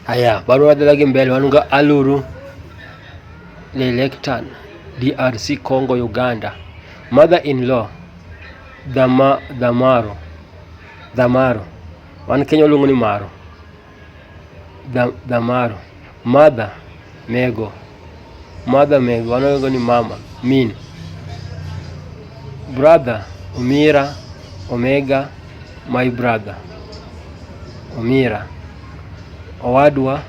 Haya, bado wadalagi mbele wanunga aluru lelektan DRC Congo Uganda mother in law Dhama, Dhamaro Dhamaro wan Kenya waluongo ni Maro Dhamaro mother nego Mother Meg, wanaongo ni mama Min, brother Omira, Omega, my brother Omira, owadwa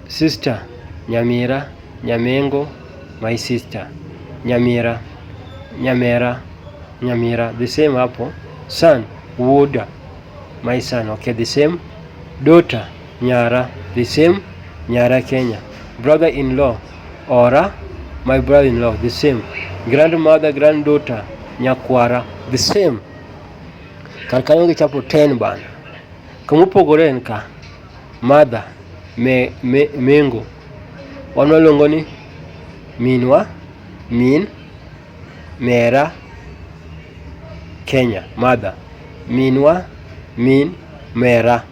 sister Nyamira, Nyamengo, my sister Nyamira, Nyamera, Nyamira, the same hapo son Wuoda My son, okay, the same. Daughter, nyara, the same. Nyara Kenya. Brother-in-law, ora, my brother-in-law, the same. Grandmother, granddaughter, nyakwara, the same. Kar kanyo gichapo 10 bana. Kamopogore en ka mother me, me, mengo wan waluongo ni minwa min Mera, Kenya, mother. Minwa, min, mera.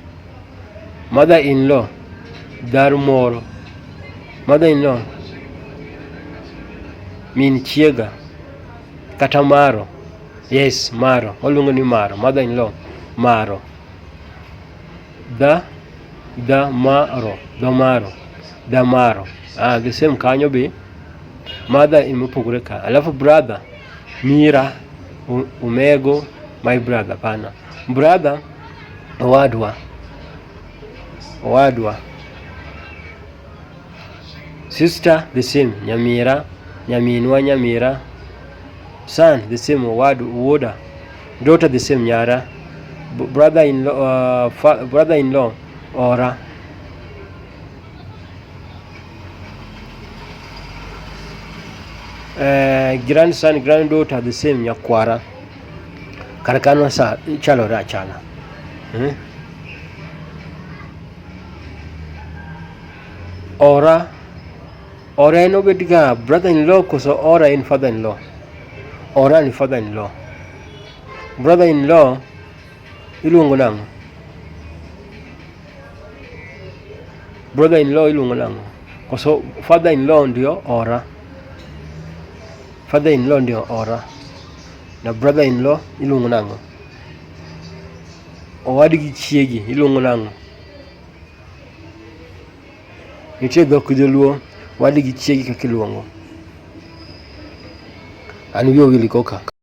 Mother in law, dar moro. Mother in law, min chiega kata maro. Yes, maro. Waluongo ni maro. Mother in law, maro. Da, da maro, da maro, da maro. Ah, the same kanyo be. Mother in mopogore ka. Alafu brother mira u- umego my brother pana. Brother owadwa. Owadwa. Sister the same nyamira nyaminwa nyamira. Son the same owadu uwoda. Daughter the same nyara. B- brother in law uh, fa- brother in law ora. Uh, grandson, granddaughter, the same nyakwara kar kano sa chalore achana hmm? ora ora en obed ga brother in law koso ora en father in law ora ni father in law brother in law iluongo nang'o Brother in law iluongo nango? Koso father in law ndio ora. Father in law ndio ora. Na brother in law iluongo nango? Owadgi chiegi iluongo nango? Nitie dhok joluo wadgi chiegi kaka iluongo. An wiyo wili koka.